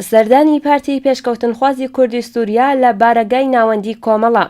سەردانی پارتی پێشکەوتنخوازی کوردی سووریا لە بارەگای ناوەندی کۆمەڵە.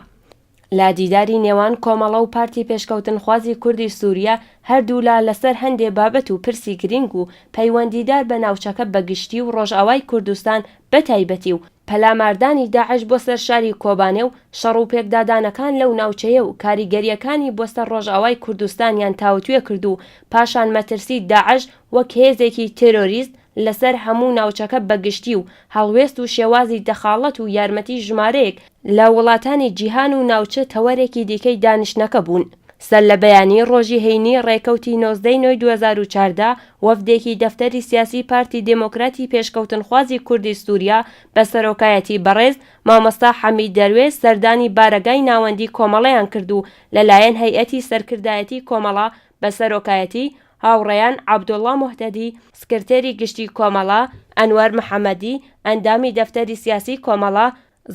لە دیداری نێوان کۆمەڵە و پارتی پێشکەوتنخوازی کوردی سووریا، هەردوولا لەسەر هەندێ بابەت و پرسی گرینگ و پەیوەندیدار بە ناوچەکە بە گشتی و ڕۆژئاوای کوردستان بە تایبەتی و پەلاماردانی داعش بۆ سەر شاری کۆبانێ و شەڕ و پێکدادانەکان لەو ناوچەیە و کاریگەرییەکانی بۆ سەر ڕۆژئاوای کوردستانیان تاوتوێ کرد و پاشان مەترسی داعش وەک هێزێکی تێرۆریست لەسەر هەموو ناوچەکە بەگشتی و هەڵوێست و شێوازی دەخاڵەت و یارمەتی ژمارەیەک لە وڵاتانی جیهان و ناوچە تەوەرێکی دیکەی دانیشتنەکە بوون. سەرلەبەیانیی ڕۆژی هەینی ڕێکەوتی نۆزدە ی نۆی دوو هەزار و چاردە، وەفدێکی دەفتەری سیاسی پارتی دێمۆکراتی پێشکەوتنخوازی کوردی سووریا بە سەرۆکایەتی بەڕێز مامۆستا حەمید دەروێش سەردانی بارەگای ناوەندیی کۆمەڵەیان کرد و لەلایەن هەیئەتی سەرکردایەتی کۆمەڵە بە سەرۆکایەتی هاوڕێیان عەبدوڵڵا موهتەدی، سکرتێری گشتی کۆمەڵە، ئەنوەر محەمەدی، ئەندامی دەفتەری سیاسی کۆمەڵە،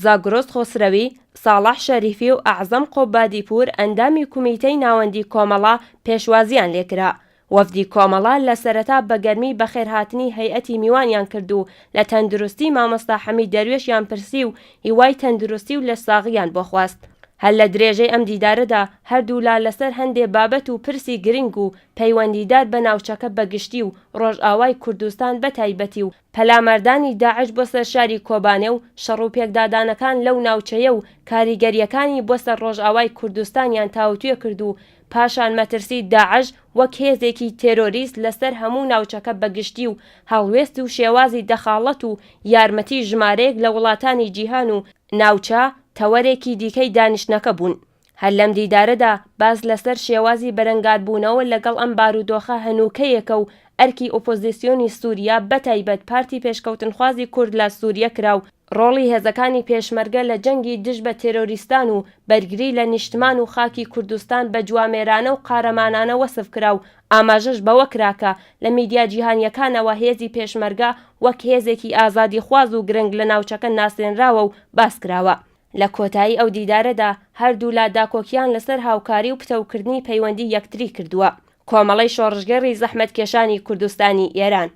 زاگرۆس خۆسرەوی، ساڵح شەریفی و ئەعزەم قوبادیپوور ئەندامی کومیتەی ناوەندی کۆمەڵە پێشوازییان لێ کرا. وەفدی کۆمەڵە لە سەرەتا بە گەرمی بەخێرهاتنی هەیئەتی میوانیان کرد و لە تەندروستی مامۆستا حەمید دەروێشیان پرسی و هیوای تەندروستی و لەشساغییان بۆ خواست. هەر لە درێژەی ئەم دیدارەدا هەردوولا لەسەر هەندێ بابەت و پرسی گرنگ و پەیوەندیدار بە ناوچەکە بە گشتی و ڕۆژئاوای کوردستان بە تایبەتی و پەلاماردانی داعش بۆ سەر شاری کۆبانێ و شەڕو پێکدادانەکان لەو ناوچەیە و کاریگەرییەکانی بۆ سەر ڕۆژئاوای کوردستانیان تاوتوێ کرد و پاشان مەترسی داعش وەک هێزێکی تێرۆریست لەسەر هەموو ناوچەکە بە گشتی و هەڵوێست و شێوازی دەخاڵەت و یارمەتی ژمارەیەک لە وڵاتانی جیهان و ناوچە تەوەرێکی دیکەی دانیشتنەکە بوون. هەر لەم دیدارەدا باس لەسەر شێوازی بەرەنگاربوونەوە لەگەڵ ئەم بارودۆخە هەنووکەیەکە و ئەرکی ئۆپۆزیسیۆنی سووریا بەتایبەت پارتی پێشکەوتنخوازی کورد لە سووریە کرا و ڕۆڵی هێزەکانی پێشمەرگە لە جەنگی دژ بە تێرۆریستان و بەرگری لە نیشتمان و خاکی کوردستان بە جوامێرانە و قارەمانانە وەسف کرا و ئاماژەش بەوە کرا کە لە میدیا جیهانییەکانەوە هێزی پێشمەرگە وەک هێزێکی ئازادیخواز و گرنگ لە ناوچەکە ناسێنراوە و باس کراوە. لە کۆتایی ئەو دیدارەدا هەردوولا داکۆکییان لەسەر هاوکاری و پتەوکردنی پەیوەندی یەکتری کردووە. کۆمەڵەی شۆڕشگێڕی زەحمەتکێشانی کوردستانی ئێران.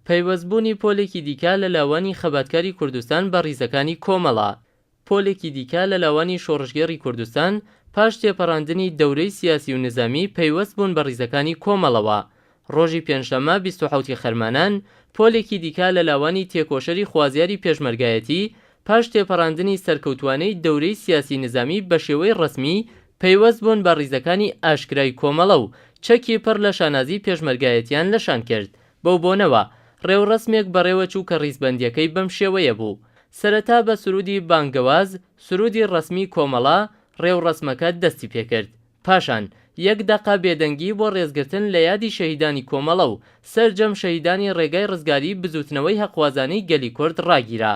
پەیوەستبوونی پۆلێکی دیکە لە لاوانی خەباتکاری کوردستان بە ڕیزەکانی کۆمەڵە، پۆلێکی دیکە لە لاوانی شۆڕشگێڕی کوردستان پاش تێپەڕاندنی دەورەی سیاسی و نزامی پەیوەست بوون بە ڕیزەکانی کۆمەڵەوە. ڕۆژی پێنجشەممە بیست و حەوتی خەرمانان پۆلێکی دیکە لە لاوانی تێکۆشەری خوازیاری پێشمەرگایەتی پاش تێپەڕاندنی سەرکەوتووانەی دەورەی سیاسی نزامی بە شێوەی ڕەسمی پەیوەست بوون بە ڕیزەکانی ئاشکرای کۆمەڵە و چەکی پڕ لە شانازی پێشمەرگایەتیان لە شان کرد. بەو بۆنەوە ڕێوڕەسمێک بەڕێوەچوو کە ڕیزبەندییەکەی بەم شێوەیە بوو، سەرەتا بە سروودی بانگەواز، سروودی ڕەسمیی کۆمەڵە، ڕێوڕەسمەکە دەستی پێ کرد. پاشان یەک دەقە بێدەنگی بۆ ڕێزگرتن لە یادی شەهیدانی کۆمەڵە و سەرجەم شەهیدانی ڕێگای ڕزگاریی بزووتنەوەی هەقخوازانەی گەلی کورد ڕاگیرا.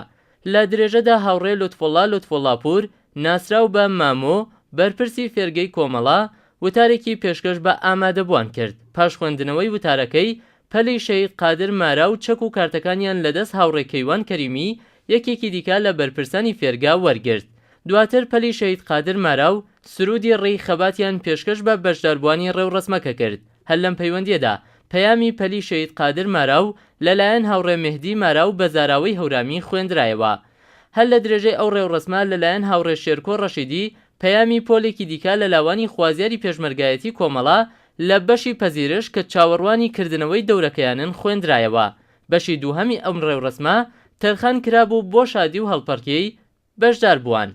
لە درێژەدا هاوڕێ لوتفوڵڵا لوتفوڵڵاپوور، ناسراو بە مامۆ، بەرپرسی فێرگەی کۆمەڵە، وتارێکی پێشکەش بە ئامادەبووان کرد، پاش خوێندنەوەی وتارەکەی، پەلی شەهید قادر مارا و چەک و کارتەکانیان لە دەست هاوڕێ کەیوان کەریمی یەکێکی دیکە لە بەرپرسانی فێرگە وەرگرت، دواتر پەلی شەهید قادر مارا و سروودی ڕێی خەباتیان پێشکەش بە بەشداربووانی ڕێوڕەسمەکە کرد. هەر لەم پەیوەندییەدا پەیامی پەلی شەهید قادر مارا و لەلایەن هاوڕێ مێهدی مارا و بە زاراوەی هەورامی خوێندرایەوە. هەر لە درێژەی ئەو ڕێوڕەسمە لەلایەن هاوڕێ شێرکۆ ڕەشیدی پەیامی پۆلێکی دیکە لە لاوانی خوازیاری پێشمەرگایەتی کۆمەڵە لە بەشی پەزیرش کە چاوەڕوانی کردنەوەی دەورەکەیانن خوێندرایەوە. بەشی دووهەمی ئەم ڕێوڕەسمە تەرخان کرابوو بۆ شادی و هەڵپەڕکێی بەشدار بووان.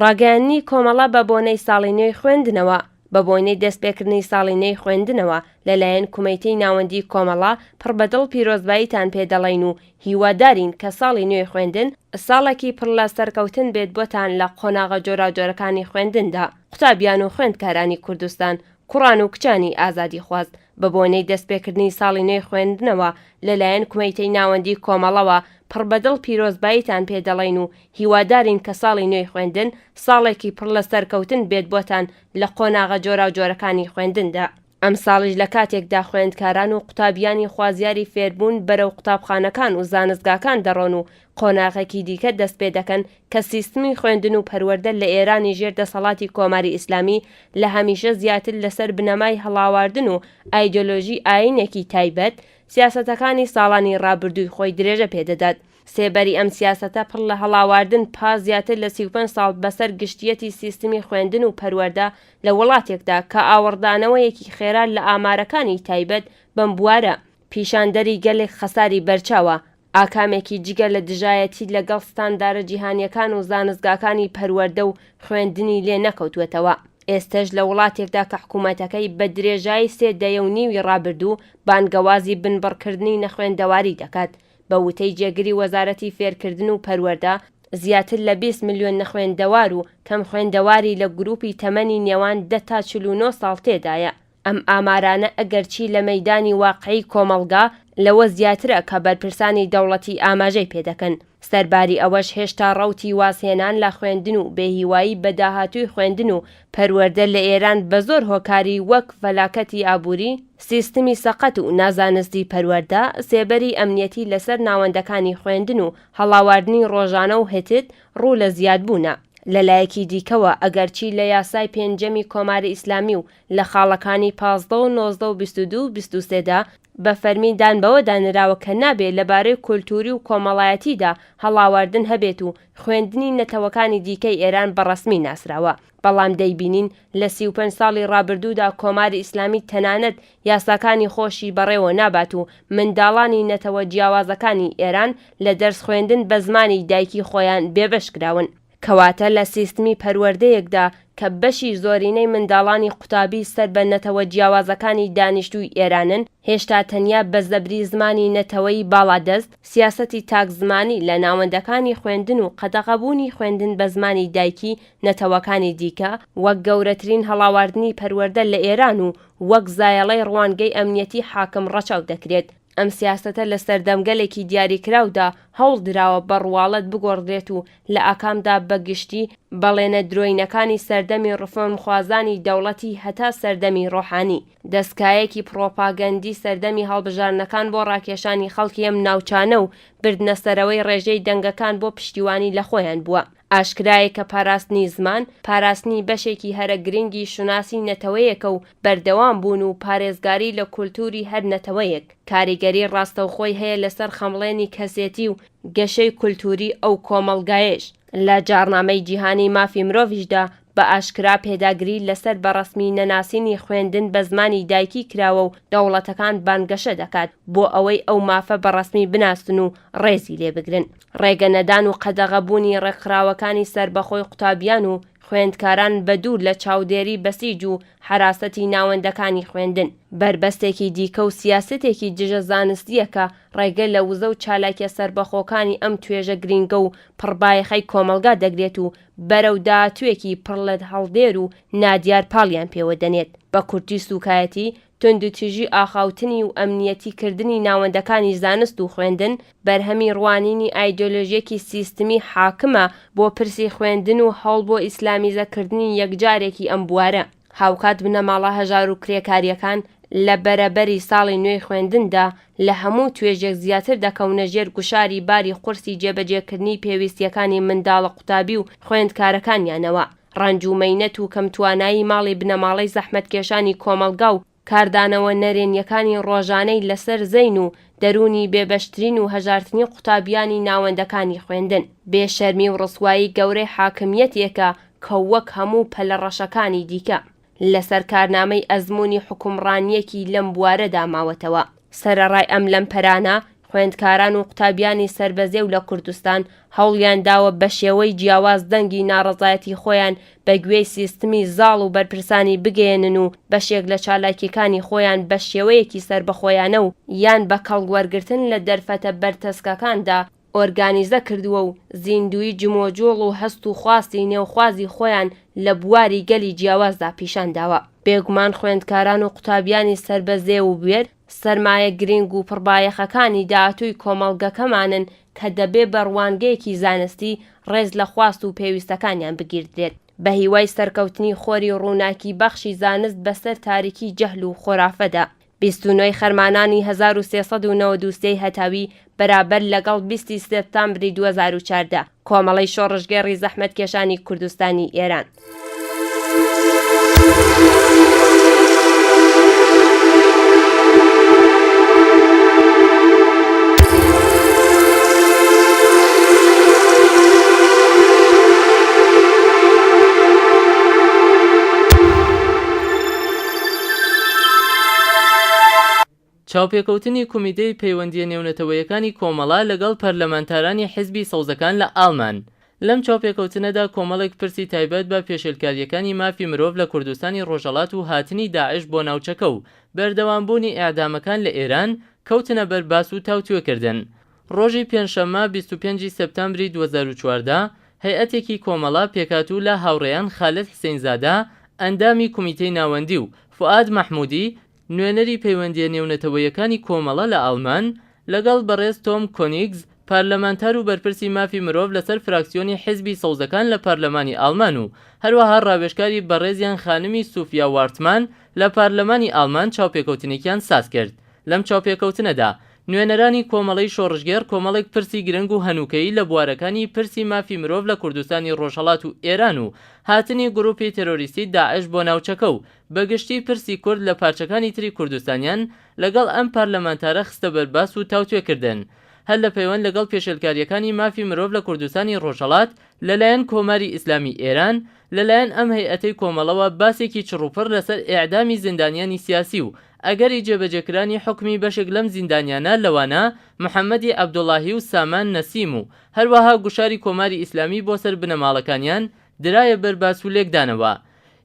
ڕاگەیاندنی کۆمەڵە بە بۆنەی ساڵی نوێی خوێندنەوە بە بۆنەی دەستپێکردنی ساڵی نوێی خوێندنەوە لەلایەن کومیتەی ناوەندی کۆمەڵە پڕ بە دڵ پیرۆزباییتان پێ دەڵێین و هیوادارین کە ساڵی نوێی خوێندن ساڵێکی پڕ لە سەرکەوتن بێت بۆتان لە قۆناغە جۆراوجۆرەکانی خوێندندا. قوتابیان و خوێندکارانی کوردستان کوڕان و کچانی ئازادیخواز، بە بۆنەی دەستپێکردنی ساڵی نوێی خوێندنەوە، لە لایەن کومیتەی ناوەندیی کۆمەڵەوە، پڕ بە دڵ پیرۆزباییتان پێ دەڵێین و هیوادارین کە ساڵی نوێی خوێندن، ساڵێکی پڕ لە سەرکەوتن بێت بۆتان لە قۆناغە جۆراوجۆرەکانی خوێندندا. ئەمساڵیش لە کاتێکدا خوێندکاران و قوتابیانی خوازیاری فێربوون بەرەو قوتابخانەکان و زانستگاکان دەڕۆن و قۆناغێکی دیکە دەست پێ دەکەن کە سیستمی خوێندن و پەروەردە لە ئێرانی ژێر دەسەڵاتی کۆماری ئیسلامی لە هەمیشە زیاتر لەسەر بنەمای هەڵاواردن و ئایدۆلۆژی ئایینێکی تایبەت، سیاسەتەکانی ساڵانی ڕابردووی خۆی درێژە پێ دەدات. سێبەری ئەم سیاسەتە پڕ لە هەڵاواردن پاش زیاتر لە سی و پێنج ساڵ بەسەر گشتییەتی سیستمی خوێندن و پەروەردە لە وڵاتێکدا کە ئاوڕدانەوەیەکی خێرا لە ئامارەکانی تایبەت بەم بوارە پیشاندەری گەلێک خەساری بەرچاوە ئاکامێکی جگە لە دژایەتی لە گەڵ ستاندارە جیهانیەکان و زانستگاکانی پەروەردە و خوێندنی لێ نەکەوتووەتەوە. ئێستەش لە وڵاتێکدا کە حکوومەتەکەی بە درێژایی سێ دەیە و نیوی ڕابردوو بانگەوازی بنبڕکردنی نەخوێندەواری دەکات، بە وتەی جێگری وەزارەتی فێرکردن و پەروەردە، زیاتر لە بیست ملیۆن نەخوێندەوار و کەم خوێندەواری لە گرووپی تەمەنی نێوان دە تا چل و نۆ ساڵ تێدایە. ئەم ئامارانە ئەگەرچی لە مەیدانی واقعی کۆمەڵگا لەوە زیاترە کە بەرپرسانی دەوڵەتی ئاماژەی پێ دەکەن، سەرباری ئەوەش هێشتا ڕەوتی وازهێنان لە خوێندن و بێهیوایی بە داهاتووی خوێندن و پەروەردە لە ئێران بە زۆر هۆکاری وەک فەلاکەتی ئابووری، سیستمی سەقەت و نازانستی پەروەردە، سێبەری ئەمنیەتی لەسەر ناوەندەکانی خوێندن و هەڵاواردنی ڕۆژانە و هتد. ڕوو لە زیادبوونە. لە لایەکی دیکەوە ئەگەرچی لە یاسای پێنجەمی کۆماری ئیسلامی و لە خاڵەکانی پازدە و نۆزدە و بیست و دوو و بیست و سێ دا بە فەرمی دان بەوەدا نراوە کە نابێ لە بارەی کولتووری و کۆمەڵایەتیدا هەڵاواردن هەبێت و خوێندنی نەتەوەکانی دیکەی ئێران بە ڕەسمی ناسراوە بەڵام دەیبینین لە سی و پەنج ساڵی ڕابردوودا کۆماری ئیسلامی تەنانەت یاساکانی خۆشی بەڕێوە نابات و منداڵانی نەتەوە جیاوازەکانی ئێران لە دەرس خوێندن بە زمانی دایکی خۆیان بێبەش کراون. کەواتە لە سیستمی پەروەردەیەکدا کە بەشی زۆرینەی منداڵانی قوتابی سەر بە نەتەوە جیاوازەکانی دانیشتووی ئێرانن، هێشتا تەنیا بە زەبری زمانی نەتەوەی باڵادەست، سیاسەتی تاک زمانی لە ناوەندەکانی خوێندن و قەدەغەبوونی خوێندن بە زمانی دایکی نەتەوەکانی دیکە، وەک گەورەترین هەڵاواردنی پەروەردە لە ئێران و وەک زایەڵەی ڕوانگەی ئەمنیەتی حاکم ڕەچاو دەکرێت. ئەم سیاسەتە لە سەردەمگەلێکی دیاریکراودا هەوڵ دراوە بە ڕواڵەت بگۆڕدرێت و لە ئاکامدا بە گشتی بەڵێنە درۆینەکانی سەردەمی ڕفۆرمخوازانی دەوڵەتی هەتا سەردەمی ڕۆحانی، دەستکایەکی پڕۆپاگەندی سەردەمی هەڵبژاردنەکان بۆ ڕاکێشانی خەڵکی ئەم ناوچانە و بردنەسەرەوەی ڕێژەی دەنگەکان بۆ پشتیوانی لە خۆیان بووە. ئاشکرایە کە پاراستنی زمان، پاراستنی بەشێکی هەرە گرنگی شوناسی نەتەوەیەکە و بەردەوام بوون و پارێزگاری لە کولتووری هەر نەتەوەیەک، کاریگەری ڕاستەوخۆی هەیە لەسەر خەمڵێنی کەسێتی و گەشەی کولتووری ئەو کۆمەڵگایەیش. لە جاڕنامەی جیهانی مافی مرۆڤیشدا بە ئاشکرا پێداگری لەسەر بە ڕەسمی نەناسینی خوێندن بە زمانی دایکی کراوە و دەوڵەتەکان بانگەشە دەکات بۆ ئەوەی ئەو مافە بە ڕەسمی بناسن و ڕێزی لێ بگرن. ڕێگە نەدان و قەدەغە بوونی ڕێکخراوەکانی سەربەخۆی قوتابیان و خوێندکاران بە دوور لە چاودێری بەسیج و حەراسەتی ناوەندەکانی خوێندن، بەربەستێکی دیکە و سیاسەتێکی دژە زانستییە کە ڕێگە لە وزە و چالاکیە سەربەخۆکانی ئەم توێژە گرینگە و پڕ بایەخەی کۆمەڵگا دەگرێت و بەرەو داهاتوێکی پڕ لە هەڵدێر و نادیار پاڵیان پێوە دەنێت. بە کورتی سوکایەتی توندوتیژی ئاخاوتنی و ئەمنییەتی کردنی ناوەندەکانی زانست و خوێندن، بەرهەمی ڕوانینی ئایدۆلۆژیەکی سیستمی حاکمە بۆ پرسی خوێندن و هەوڵ بۆ ئیسلامیزە کردنی یەکجارەکی ئەم بوارە. هاوکات بنەماڵە هەژارو کرێکاریەکان لە بەرەبەری ساڵی نوێی خوێندندا لە هەموو توێژێک زیاتر دەکەونە ژێر گوشاری باری قورسی جێبەجێکردنی پێویستیەکانی منداڵە قوتابی و خوێندکارەکانیانەوە. ڕەنج و مەینەت و کەم توانایی ماڵی بنەماڵەی زەحمەتکێشانی کۆمەڵگا و کاردانەوە نەرێنیەکانی ڕۆژانەی لەسەر زەین و دەروونی بێ بەشترین و هەژارترین قوتابیانی ناوەندەکانی خوێندن، بێ شەرمی و ڕسوایی گەورەی حاکمیەتێکە کە وەک هەموو پەلە ڕەشەکانی دیکە، لەسەر کارنامەی ئەزموونی حوکمڕانییەکی لەم بوارەدا ماوەتەوە. سەرەڕای ئەم لەمپەرانە، خوێندکاران و قوتابیانی سەربەزێو لە کوردستان هەوڵیان داوە بە شێوەی جیاواز دەنگی ناڕەزایەتی خۆیان بە گوێی سیستمی زاڵ و بەرپرسانی بگەیەنن و بەشێک لە چالاکییەکانی خۆیان بە شێوەیەکی سەربەخۆیانە و یان بە کەڵک وەرگرتن لە دەرفەتە بەرتەسکەکاندا ئۆرگانیزە کردووە و زیندووی جمۆجۆڵ و هەست و خواستی نێوخوازی خۆیان لە بواری گەلی جیاوازدا پیشان داوە. بێگومان خوێندکاران و قوتابیانی سەر بە زێ و بوێر، سەرمایە گرینگ و پڕبایەخەکانی داهاتووی کۆمەڵگەکەمانن کە دەبێ بە ڕوانگەیەکی زانستی ڕێز لە خواست و پێویستەکانیان بگیردرێت. بە هیوای سەرکەوتنی خۆری ڕووناکی بەخشی زانست بە سەر تاریکی جەهل و خۆرافەدا، بیست و نۆی خەرمانانی هەزار و سێ سەد و نەوەد و سێی هەتاوی بەرابەر لەگەڵ بیست ی سێپتامبری دوو هەزار و چواردە کۆمەڵەی شۆڕشگێڕی زەحمەتکێشانی کوردستانی ئێران. چاوپێکەوتنی کومیتەی پەیوەندییە نێونەتەوەیەکانی کۆمەڵە لەگەڵ پەرلەمانتارانی حیزبی سەوزەکان لە ئاڵمان لەم چاوپێکەوتنەدا کۆمەڵێک پرسی تایبەت بە پێشێلکارییەکانی مافی مرۆڤ لە کوردستانی ڕۆژهەڵات و هاتنی داعش بۆ ناوچەکە و بەردەوامبوونی ئێعدامەکان لە ئێران کەوتنە بەر باس و تاوتوێکردن ڕۆژی پێنجشەممە بیست و پێنج ی سێپتامبری دوو هەزار و چواردە، هەیئەتێکی کۆمەڵە پێکهاتوو لە هاوڕێیان خالد حسین زادە، ئەندامی کومیتەی ناوەندی و فوئاد مەحمودی، نوێنەری پەیوەندییە نێونەتەوەیەکانی کۆمەڵە لە ئاڵمان، لەگەڵ بەڕێز تۆم کۆنیگز، پارلەمانتار و بەرپرسی مافی مرۆڤ لەسەر فراکسیۆنی حیزبی سەوزەکان لە پارلەمانی ئاڵمان و هەروەها ڕاوێژکاری بەڕێزیان خانمی سوفیا وارتمان لە پارلەمانی ئاڵمان چاوپێکەوتنێکیان سازکرد لەم چاوپێکەوتنەدا نوێنەرانی کۆمەڵەی شۆڕشگێڕ کۆمەڵێک پرسی گرنگ و هەنووکەیی لە بوارەکانی پرسی مافی مرۆڤ لە کوردستانی ڕۆژهەڵات و ئێران و هاتنی گرووپی تێرۆریستی داعش بۆ ناوچەکە و بە گشتی پرسی کورد لە پارچەکانی تری کوردستانیان لەگەڵ ئەم پارلەمانتارە خستە بەر باس و تاوتوێ کردن هەر لە پەیوەند لەگەڵ پێشێلکارییەکانی مافی مرۆڤ لە کوردستانی ڕۆژهەڵات لەلایەن کۆماری ئیسلامی ئێران لەلایەن ئەم هەیئەتەی کۆمەڵەوە باسێکی چڕوپڕ لەسەر ئێعدامی زیندانیانی سیاسی و ئەگەری جێبەجێکرانی حوکمی بەشێک لەم زیندانیانە لەوانە محەمەدی عەبدوڵاهی و سامان نەسیم و هەروەها گوشاری کۆماری ئیسلامی بۆ سەر بنەماڵەکانیان درایە بەر باس و لێکدانەوە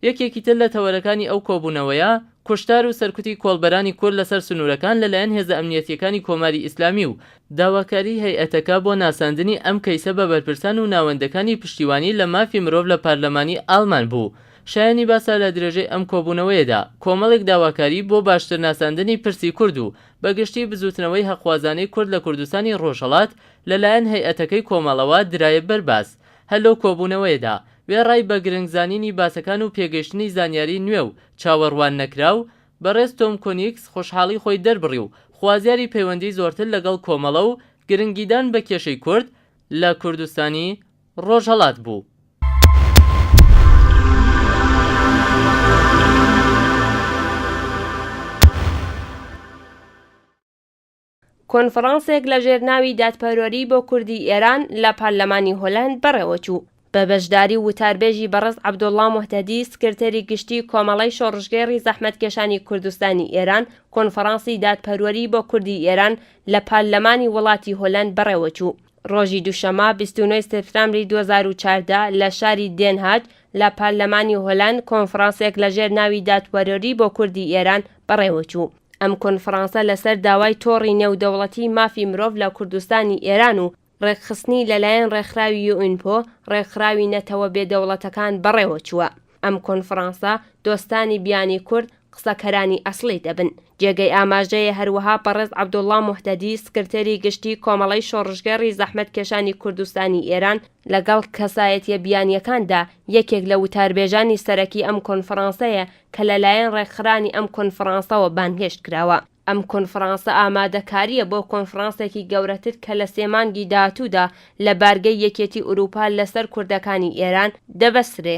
یەکێکی تر لە تەوەرەکانی ئەو کۆبوونەوەیە، کوشتار و سەرکوتی کۆڵبەرانی کورد لەسەر سنوورەکان لەلایەن هێزە ئەمنییەتییەکانی کۆماری ئیسلامی و داواکاریی هەیئەتەکە بۆ ناساندنی ئەم کەیسە بە بەرپرسان و ناوەندەکانی پشتیوانی لە مافی مرۆڤ لە پارلەمانی ئاڵمان بوو. شایەنی باسە لە درێژەی ئەم کۆبوونەوەیەدا کۆمەڵێک داواکاری بۆ باشتر ناساندنی پرسی کورد و بە گشتی بزووتنەوەی هەقخوازانەی کورد لە کوردستانی ڕۆژهەڵات لەلایەن هەیئەتەکەی کۆمەڵەوە درایە بەر باس. هەر لەو کۆبوونەوەیەدا، وێڕای بە گرنگ زانینی باسەکان و پێگەیشتنی زانیاری نوێ و چاوەڕوان نەکراو، بەڕێز تۆم کۆنیکس خۆشحاڵی خۆی دەربڕی و خوازیاری پەیوەندی زۆرتر لەگەڵ کۆمەڵە و گرنگیدان بە کێشەی کورد لە کوردستانی ڕۆژهەڵات بوو. کۆنفڕانسێک لە ژێر ناوی دادپەروەری بۆ کوردی ئێران لە پارلەمانی هۆلەند بەڕێوەچوو، بە بەشداری وتاربێژی بەڕێز عەبدوڵڵا موهتەدی سکرتێری گشتیی کۆمەڵەی شۆڕشگێڕی زەحمەتکێشانی کوردستانی ئێران، کۆنفڕانسی دادپەروەری بۆ کوردی ئێران لە پارلەمانی وڵاتی هۆلەند بەڕێوەچوو. ڕۆژی دووشەممە بیست و نۆ سێپتامبری دوو هەزار و چواردە لە شاری دێنهاگ لە پارلەمانی هۆلاند کۆنفڕانسێک لەژێر ناوی دادپەرۆری بۆ کوردی ئێران بەڕێوەچوو. ئەم کۆنفڕانسە لەسەر داوای تۆڕی نێودەوڵەتیی مافی مرۆڤ لە کوردستانی ئێران و ڕێکخستنی لەلایەن ڕێکخراوی یوئینپۆ، ڕێکخراوی نەتەوە بێدەوڵەتەکان بەڕێوەچووە. ئەم کۆنفڕانسە دۆستانی بیانی کورد قسەکەرانی ئەسڵی دەبن. جێگەی ئاماژەیە هەروەها بەڕێز عەبدوڵڵا موهتەدی سکرتێری گشتی کۆمەڵەی شۆڕشگێڕی زەحمەتکێشانی کوردستانی ئێران لەگەڵ کەسایەتیە بیانیەکاندا یەکێک لە وتاربێژانی سەرەکی ئەم کۆنفڕانسەیە کە لەلایەن ڕێکخرانی ئەم کۆنفڕانسەوە بانگهێشت کراوە. ئەم کۆنفرانسە ئامادەکارییە بۆ کۆنفرانسێکی گەورەتر کە لە سێ مانگی داهاتوودا لە بارگەی یەکێتی ئورووپا لەسەر کوردەکانی ئێران دەبەسترێ.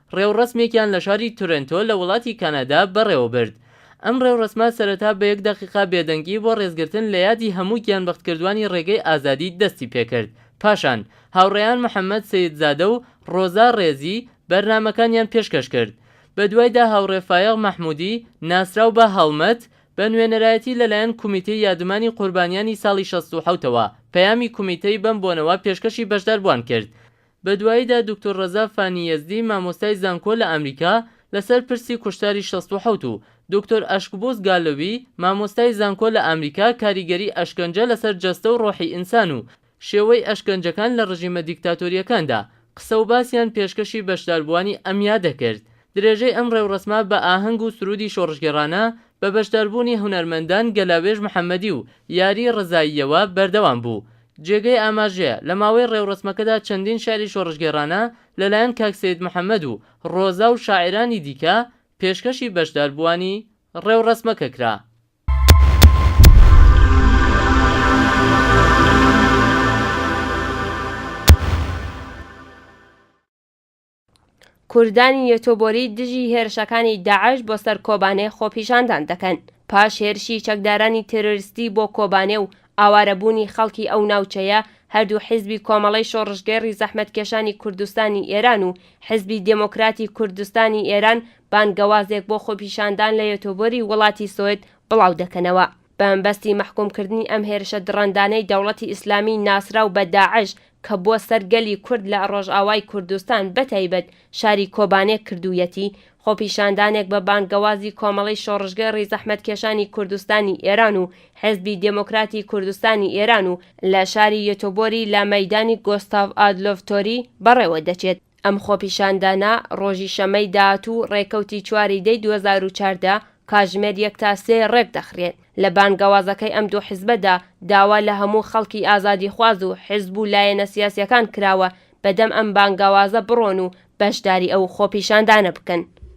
ڕێوڕەسمێکیان لە شاری تورێنتۆ لە وڵاتی کانادا بەڕێوەبرد. ئەم ڕێوڕەسمە سەرەتا بە یەک دەقیقە بێدەنگی بۆ ڕێزگرتن لە یادی هەموو گیانبەختکردوانی ڕێگەی ئازادی دەستی پێکرد، پاشان هاوڕێیان محەمەد سەیدزادە و ڕۆزا ڕێزی بەرنامەکانیان پێشکەش کرد. بەدوایدا هاوڕێ فایەق مەحمودی ناسراو بە هەڵمەت بە نوێنەرایەتی لەلایەن کومیتەی یادومانی قوربانیانی ساڵی شەست و حەوتەوە پەیامی کومیتەی بەم بۆنەوە پێشکەشی بەشداربووان کرد بە دواییدا دوکتور ڕەزا فانی یەزدی مامۆستای زانکۆ لە ئامریکا لەسەر پرسی کوشتاری شەست و حەوت و دوکتور ئەشکبوز گالۆوی مامۆستای زانکۆ لە ئامریکا کاریگەری ئەشکەنجە لەسەر جەستە و ڕۆحی ئینسان و شێوەی ئەشکەنجەکان لە ڕژیمە دیکتاتۆرییەکاندا قسە و باسیان پێشکەشی بەشداربووانی ئەم یادە کرد. درێژەی ئەم ڕێوڕەسمە بە ئاهەنگ و سروودی شۆڕشگێڕانە بە بەشداربوونی هونەرمەندان گەلاوێژ محەممەدی و یاری ڕەزاییەوە بەردەوام بوو. جێگەی ئاماژەیە، لە ماوەی ڕێوڕەسمەکەدا چەندین شیعری شۆڕشگێڕانە لەلایەن کاک سەید محەممەد و ڕۆزا و شاعیرانی دیکە پێشکەشی بەشداربووانی ڕێوڕەسمەکە کرا. کوردانی یۆتۆبۆری دژی هێرشەکانی داعش بۆ سەر کۆبانێ خۆپیشاندان دەکەن پاش هێرشی چەکدارانی تێرۆریستی بۆ کۆبانێ و ئاوارەبوونی خەڵکی ئەو ناوچەیە هەردوو حیزبی کۆمەڵەی شۆڕشگێڕی زەحمەتکێشانی کوردستانی ئێران و حیزبی دێمۆکراتی کوردستانی ئێران بانگەوازێک بۆ خۆپیشاندان لە یۆتۆبۆری وڵاتی سوید بڵاودەکەنەوە. بەمەبەستی مەحکوومکردنی ئەم هێرشە دڕەندانەی دەوڵەتی ئیسلامیی ناسراو بە داعش کە بۆ سەر گەلی کورد لە ڕۆژئاوای کوردستان بەتایبەت شاری کۆبانێ کردوویەتی، خۆپیشاندانێک بە بانگەوازی کۆمەڵەی شۆڕشگێڕی زەحمەتکێشانی کوردستانی ئێران و حێزبی دێمۆکراتی کوردستانی ئێران و لە شاری یۆتۆبۆری لە مەیدانی گۆستاڤ ئادلۆڤ تۆری بەڕێوە دەچێت. ئەم خۆپیشاندانە ڕۆژی شەمەی داهاتوو ڕێکەوتی چواری دەی دوو هەزار و چاردە کاژمێر یەک تا سێ ڕێکدەخرێن. لە بانگەوازەکەی ئەم دوو حزبەدا داوا لە هەموو خەڵکی ئازادیخواز و حزب و لایەنە سیاسیەکان کراوە بەدەم ئەم بانگەوازە بڕۆن و بەشداری ئەو خۆپیشاندانە بکەن.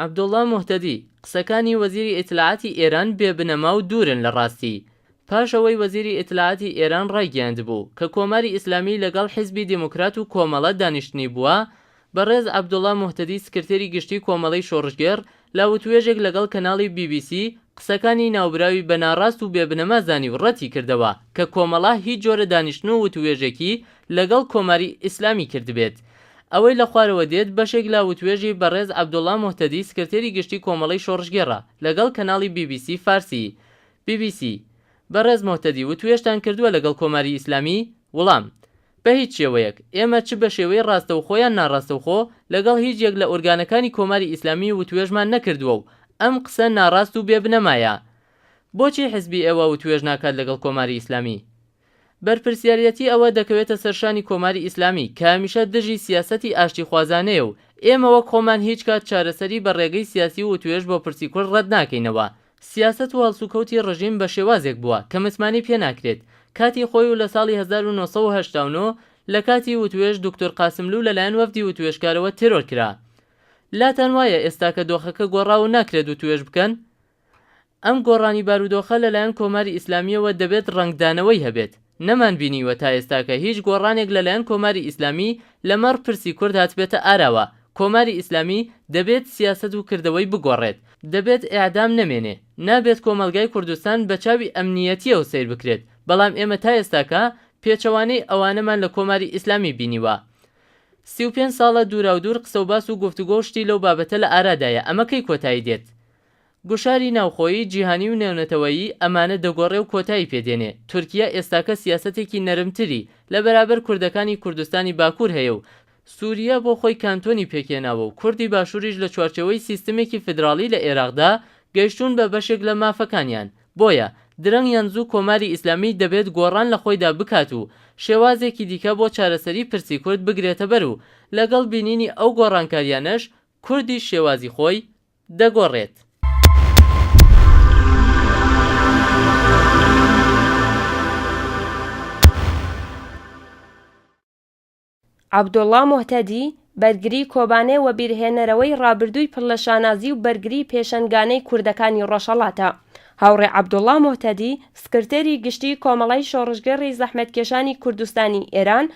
عەبدوڵڵا موهتەدی، قسەکانی وەزیری ئیتلاعاتی ئێران بێ بنەما و دوورن لە ڕاستی. پاش ئەوەی وەزیری ئیتلاعاتی ئێران ڕایگەیاندبوو کە کۆماری ئیسلامی لەگەڵ حیزبی دێموکرات و کۆمەڵە دانیشتنی بووە، بەڕێز عەبدوڵڵا موهتەدی سکرتێری گشتیی کۆمەڵەی شۆڕشگێڕ لە وتوێژێک لەگەڵ کەناڵی بی بی سی قسەکانی ناوبراوی بە ناڕاست و بێ بنەما زانی و ڕەتی کردەوە کە کۆمەڵە هیچ جۆرە دانیشتن و وتووێژێکی لەگەڵ کۆماری ئیسلامی کردبێت ئەوەی لە خوارەوە دێت بەشێک لە وتوێژی بەڕێز عەبدوڵا موهتەدی سکرتێری گشتی کۆمەڵەی شۆڕشگێڕە لەگەڵ کەناڵی بی بی سی فارسی، BBC، بەڕێز موهتەدی وتوێژتان کردووە لەگەڵ کۆماری ئیسلامی؟ وڵام، بە هیچ شێوەیەک، ئێمە چ بە شێوەی ڕاستەوخۆ یان ناڕاستەوخۆ لەگەڵ هیچ یەک لە ئۆرگانەکانی کۆماری ئیسلامی وتوێژمان نەکردووە و ئەم قسە ناڕاست و بێ بنەمایە. بۆچی حزبی ئێوە وتوێژ ناکات لەگەڵ کۆماری ئیسلامی؟ بەرپرسیاریەتی ئەوە دەکەوێتە سەر شانی کۆماری ئیسلامی کە هەمیشە دژی سیاسەتی ئاشتیخوازانەیە و ئێمە وەک خۆمان هیچ کات چارەسەری بە ڕێگەی سیاسی و وتوێژ بۆ پرسی کورد ڕەت ناکەینەوە. سیاسەت و هەڵسوکەوتی ڕژیم بە شێوازێک بووە کە متمانەی پێ ناکرێت. کاتی خۆی و لە ساڵی هەزار و نۆ سەد و هەشتا و نۆ لە کاتی وتوێژ دوکتور قاسملوو لە لایەن وەفدی وتوێژکارەوە تێرۆر کرا. لاتان وایە ئێستاکە دۆخەکە گۆڕاوە و ناکرێت وتوێژ بکەن؟ ئەم گۆڕانی بارودۆخە لەلایەن کۆماری ئیسلامییەوە دەبێت ڕەنگدانەوەی هەبێت، نەمانبینیوە تا ئێستا کە هیچ گۆڕانێک لەلایەن کۆماری ئیسلامی لەمەڕ پرسی کورد هاتبێتە ئاراوە، کۆماری ئیسلامی دەبێت سیاسەت و کردەوەی بگۆڕێت، دەبێت ئێعدام نەمێنێ، نابێت کۆمەڵگای کوردستان بە چاوی ئەمنییەتییەوە سەیر بکرێت، بەڵام ئێمە تا ئێستاکە پێچەوانەی ئەوانەمان لە کۆماری ئیسلامی بینیوە، سی و پێنج ساڵە دووراودوور قسەوباس و گفتوگۆ و شتی لەو بابەتە لە ئارادایە، ئەمە کەی کۆتایی دێت؟ گوشاری ناوخۆیی، جیهانی و نێونەتەوەیی ئەمانە دەگۆڕێ و کۆتایی پێ دێنێ. تورکییە ئێستاکە سیاسەتێکی نەرمتری لە بەرابەر کوردەکانی کوردستانی باکوور هەیە و سوورییە بۆ خۆی کانتۆنی پێک هێناوە و کوردی باشووریش لە چوارچێوەی سیستمێکی فیدراڵی لە ئێراقدا گەیشتوون بە بەشێک لە مافەکانیان. بۆیە درەنگ یان زوو کۆماری ئیسلامیی دەبێت گۆڕان لە خۆیدا بکات و شێوازێکی دیکە بۆ چارەسەری پرسی کورد بگرێتە بەر و لەگەڵ بینینی ئەو گۆڕانکارییانەش کوردیش شێوازی خۆی دەگۆڕێت. عەبدوڵڵا موهتەدی، بەرگری کۆبانێ وەبیرهێنەرەوەی ڕابردووی پڕ لە شانازی و بەرگری پێشەنگانەی کوردەکانی ڕۆژهەڵاتە. هاوڕێ عەبدوڵڵا موهتەدی، سکرتێری گشتیی کۆمەڵەی شۆڕشگێڕی زەحمەتکێشانی کوردستانی ئێران،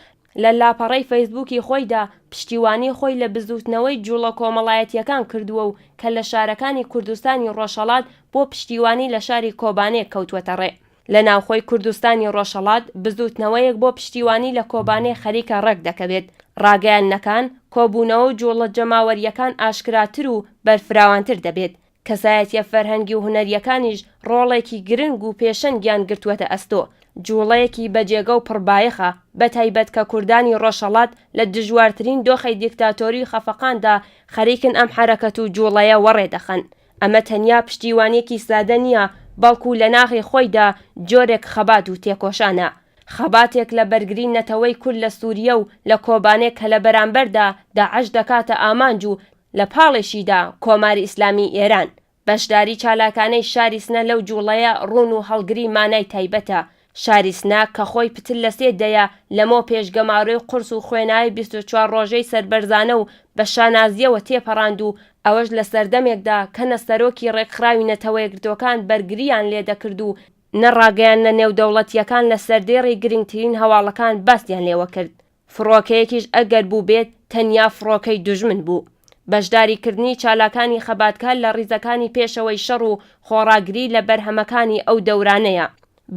لە لاپەڕەی فەیسبووکی خۆیدا پشتیوانی خۆی لە بزووتنەوەی جووڵە کۆمەڵایەتییەکان کردووە و کە لە شارەکانی کوردستانی ڕۆژهەڵات بۆ پشتیوانی لە شاری کۆبانێ کەوتووەتە ڕێ. لە ناوخۆی کوردستانی ڕۆژهەڵات بزووتنەوەیەک بۆ پشتیوانی لە کۆبانێ خەریکە ڕێک دەکەوێت، ڕاگەیاندنەکان، کۆبوونەوە و جووڵە جەماوەرییەکان ئاشکراتر و بەرفراوانتر دەبێت، کەسایەتیە فەرهەنگی و هونەریەکانیش ڕۆڵێکی گرنگ و پێشەنگیان گرتووەتە ئەستۆ، جوڵەیەکی بەجێگە و پڕ بایەخە، بەتایبەت کە کوردانی ڕۆژهەڵات لە دژوارترین دۆخی دیکتاتۆری خەفەقاندا خەریکن ئەم حەرەکەت و جوڵەیە وەڕێ دەخەن. ئەمە تەنیا پشتیوانیەکی سادە نیە، بەڵکو لە ناخی خۆیدا جۆرێک خەبات و تێکۆشانە. خەباتێک لە بەرگری نەتەوەی کورد لە سوریە و لە کۆبانێک کە لە بەرامبەردا داعش دەکاتە ئامانج و لە پاڵێشیدا کۆماری ئیسلامیی ئێران، بەشداری چالاکانەی شاری سنە لەو جووڵەیە ڕوون و هەڵگری مانای تایبەتە. شاری سنە کە خۆی پتر لە سێ دەیە لەمەو پێش گەمارۆی قورس و خوێناوی بیست و چوار ڕۆژەی سەربەرزانە و بە شانازییەوە تێپەڕاند و ئەوەش لە سەردەمێکدا کە نە سەرۆکی ڕێکخراوی نەتەوەیەکگرتووەکان بەرگرییان لێ دەکرد و نە ڕاگەیاندنە نێودەوڵەتییەکان لە سەردێڕی گرنگترین هەواڵەکان باسیان لێوە کرد فڕۆکەیەکیش ئەگەر بووبێت تەنیا فڕۆکەی دوژمن بوو. بەشداری کردنی چالاکانی خەباتکار لە ڕیزەکانی پێشەوەی شەڕ و خۆڕاگری لە بەرهەمەکانی ئەو دەورانەیە.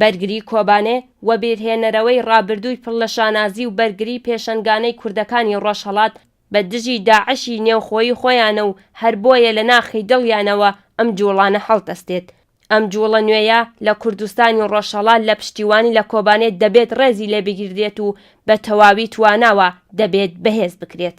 بەرگری کۆبانێ، وەبیرهێنەرەوەی ڕابردووی پڕ لە شانازی و بەرگری پێشەنگانەی کوردەکانی ڕۆژهەڵات بە دژی داعشی نێوخۆیی خۆیانە و هەر بۆیە لە ناخی دڵیانەوە ئەم جووڵانە هەڵدەستێت. ئەم جووڵە نوێیە لە کوردستانی ڕۆژهەڵات لە پشتیوانی لە کۆبانێ دەبێت ڕێزی لێ بگیردرێت و بە تەواوی تواناوە دەبێت بەهێز بکرێت.